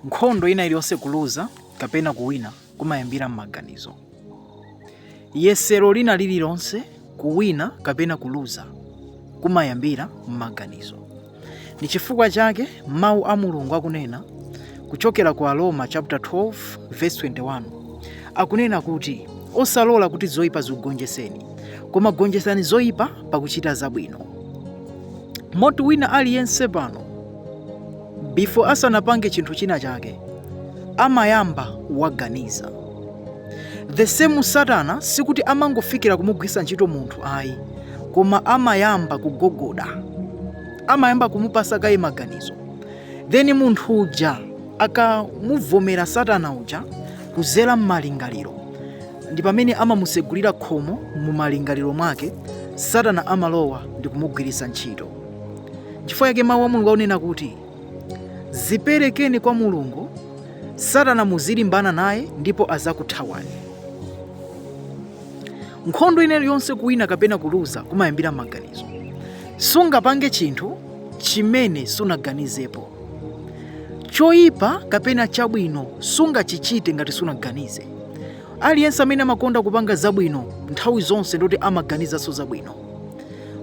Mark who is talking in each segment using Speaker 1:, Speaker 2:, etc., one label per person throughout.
Speaker 1: Nkhondo ina iliyonse kuluza kapena kuwina kumayambira m'maganizo. Yesero lina lililonse kuwina kapena kuluza kumayambira m'maganizo. Ndi chifukwa chake mawu a Mulungu akunena kuchokera ku Aroma chapter 12 verse 21 akunena kuti osalola kuti zoyipa zikugonjeseni koma gonjesani zoyipa pakuchita zabwino. Moti wina aliyense pano before asanapange chinthu china chake amayamba waganiza the same satana sikuti amangofikira kumugwiritsa ntchito munthu ayi koma amayamba kugogoda amayamba kumupasa kaye maganizo then munthu uja akamuvomera satana uja kuzera m'malingaliro ndi pamene amamusegulira khomo mu malingaliro mwake satana amalowa ndi kumugwiritsa ntchito chifukwa yake mawu a mulungu akunena kuti ziperekeni kwa mulungu satana muzilimbana naye ndipo azakuthawani nkhondo ina iliyonse kuwina kapena kuluza kumayambira m'maganizo sungapange chinthu chimene sunaganizepo choyipa kapena chabwino sungachichite ngati sunaganize aliyense amene amakonda kupanga zabwino nthawi zonse ndi kuti amaganizanso zabwino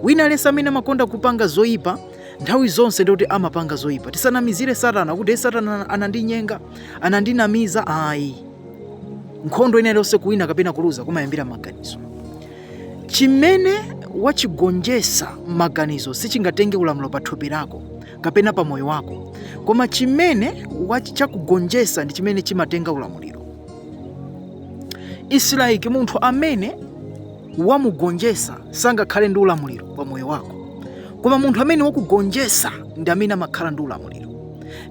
Speaker 1: wina aliyense amene amakonda kupanga zoyipa nthawi zonse ndikuti amapanga zoyipa tisanamizire satana kuti satana anandinyenga anandinamiza ayi nkhondo ina iliyonse kuwina kapena kuluza kumayambira m'maganizo chimene wachigonjesa m'maganizo sichingatenge ulamuliro pa thupi lako kapena pa moyo wako koma chimene chakugonjesa ndi chimene chimatenga ulamuliro it's like munthu amene wamugonjesa sangakhale ndi ulamuliro pa moyo wako koma munthu amene wakugonjesa ndi amene amakhala ndi ulamuliro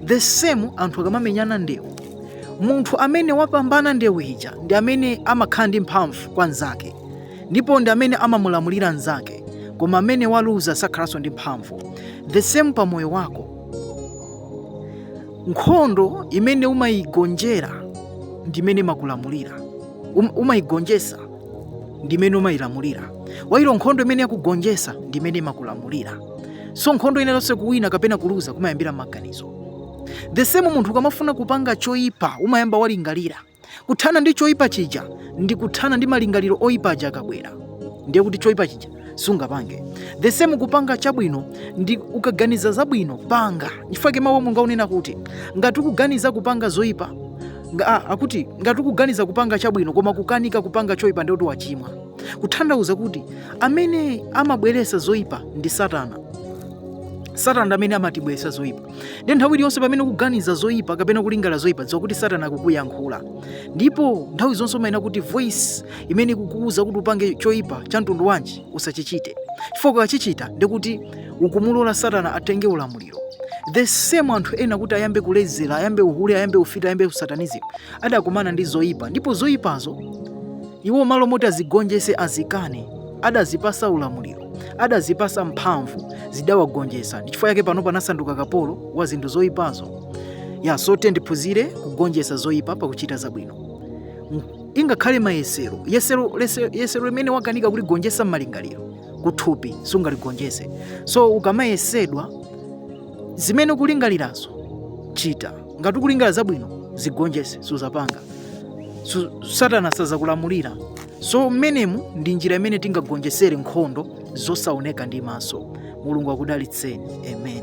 Speaker 1: the same anthu akamamenyana ndewu munthu amene wapambana ndewu ija ndi amene amakhala ndi mphamvu kwa nzake ndipo ndi amene amamulamulira nzake koma amene waluza sakhalanso ndi mphamvu the same pa moyo wako nkhondo imene umayigonjera ndi imene imakulamulira umayigonjesa ndi imene umayilamulira while nkhondo imene yakugonjesa ndi imene imakulamulira so nkhondo ina iliyonse kuwina kapena kuluza kumayambira m'maganizo the same munthu ukamafuna kupanga choyipa umayamba walingalira kuthana ndi choyipa chija ndi kuthana ndi malingaliro oyipa aja akabwera ndiye kuti choyipa chija sungapange the same kupanga chabwino ndi ukaganiza zabwino panga chifukwa mawu a Mulungu akunena kuti ngati ukuganiza kupanga zoyipa ah, akuti ngati ukuganiza kupanga chabwino koma kukanika kupanga choyipa ndiye kuti wachimwa kuthandauza kuti amene amabweresa zoyipa ndi satana satana ndi amene amatibweresa zoyipa nde nthawi iliyonse pamene ukuganiza zoyipa kapena kulingala zoyipa dziwa kuti satana akukuyankhula ndipo nthawi zonse umayenera kuti voice imene ikukuwuza kuti upange choyipa cha mtundu wanji usachichite chifukwa ukachichita ndikuti ukumulola satana atenge ulamuliro the same anthu ena kuti ayambe kulezera ayambe uhule ayambe ufiti ayambe usatanism adakumana ndi zoyipa ndipo zoyipazo iwo malo moti azigonjese azikane adazipasa ulamuliro adazipasa mphamvu zidawagonjesa ndichifukwa chake panopa anasanduka kapolo wa zinthu zoyipazo ya so tiyeni tiphunzire kugonjesa zoyipa pakuchita zabwino ngakhale mayesero yesero lese- yesero limene wakanika kuligonjetsa m'malingaliro kuthupi sungaligonjetse so ukamayesedwa zimene ukulingalirazo chita ngati ukulingalira zabwino zigonjetse suzapanga Su- satana sazakulamulira so mmenemu ndi njira imene tingagonjetsere nkhondo zosaoneka ndi maso mulungu akudalitseni amen